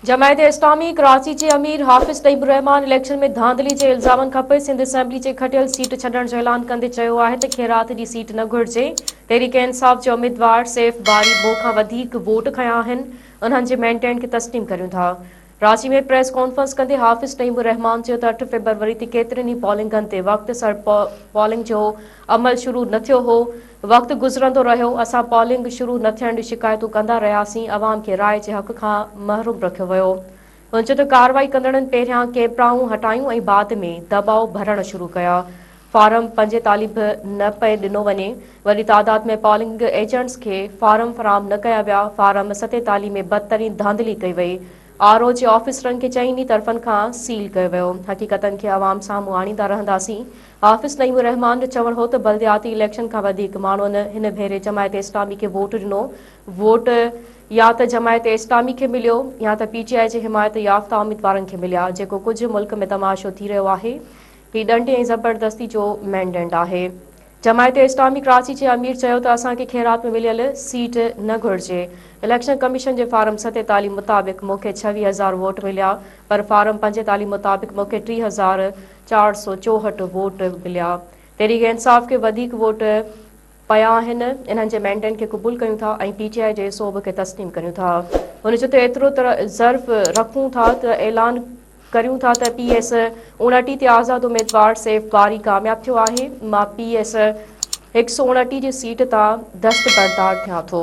جماعت اسلامي ڪراچي جي امير حافظ طيب الرحمان اليڪشن ۾ ڌانڌلي جي الزامن کانپوء سنڌ اسيمبلي جي کٽيل سيٽ ڇڏڻ جو اعلان ڪندي چيو آهي ته کيرات جي سيٽ نه گهرجي، تحريڪ انصاف جي اميدوار سيف باري ٻه کان وڌيڪ ووٽ کنيا آهن، انهن جي مينڊيٽ کي تسليم ڪريون ٿا. ڪراچي ۾ پريس ڪانفرنس ڪندي حافظ طيب الرحمان چيو ته اٺ فيبروري تي ڪيترين ئي پولنگن تي وقت سر پولنگ جو عمل شروع نه ٿيو هو، وقت گذرندو رهيو، اسان پولنگ شروع نه ٿيڻ جون شڪايتون ڪندا رهياسين، عوام کي راء جي حق کان محروم رکيو ويو. هن چيو ته ڪارروائي ڪندڙن پهريان ڪيپرائون هٽايون ۽ بعد ۾ دٻاء ڀرڻ شروع ڪيا، فارم پنجيتاليهه به نه پئي ڏنو وڃي، وڏي تعداد ۾ پولنگ ايجنٽس کي فارم فراهم نه ڪيا ويا، فارم ستيتاليهه ۾ بدترين ڌانڌلي ڪئي وئي، آر او جي آفيسرن کي چئني طرفن کان سيل ڪيو ويو، حقيقتن کي عوام سامهون آڻيندا رهنداسين، حافظ نعيم الرحمان جو چوڻ هو ته بلدياتي اليڪشن کان وڌيڪ ماڻهن هن ڀيري جماعت اسلامي کي ووٽ ڏنو، ووٽ يا ته جماعت اسلامي کي مليو يا ته پي ٽي آء جي حمايت يافته اميدوارن کي مليا، جيڪو ڪجهه ملڪ ۾ تماشو ٿي رهيو آهي، هي ڏنڊي ۽ زبردستي جو مينڊينٽ آهي. جماعت اسلامي ڪراچي جي امير چيو ته اسان کي خيرات ۾ مليل سيٽ نه گهرجي، اليڪشن ڪميشن جي فارم ستيتاليهه مطابق مون کي ڇويهه هزار ووٽ مليا پر فارم پنجيتاليهه مطابق مون کي ٽي هزار چار سؤ چوهٺ ووٽ مليا، تحريڪ انصاف کي وڌيڪ ووٽ پيا آهن، انهن جي مينڊيٽ کي قبول ڪريون ٿا ۽ پي ٽي آء جي صوب کي تسليم ڪريون ٿا. هن چيو ته ايترو ته ظرف رکون ٿا ته اعلان ڪريون ٿا ته پي ايس اوڻٽيهه تي آزاد اميدوار سيف باري ڪامياب ٿيو آهي، مان پي ايس هڪ سؤ اوڻٽيهه جي سيٽ تان دستبردار ٿيان ٿو.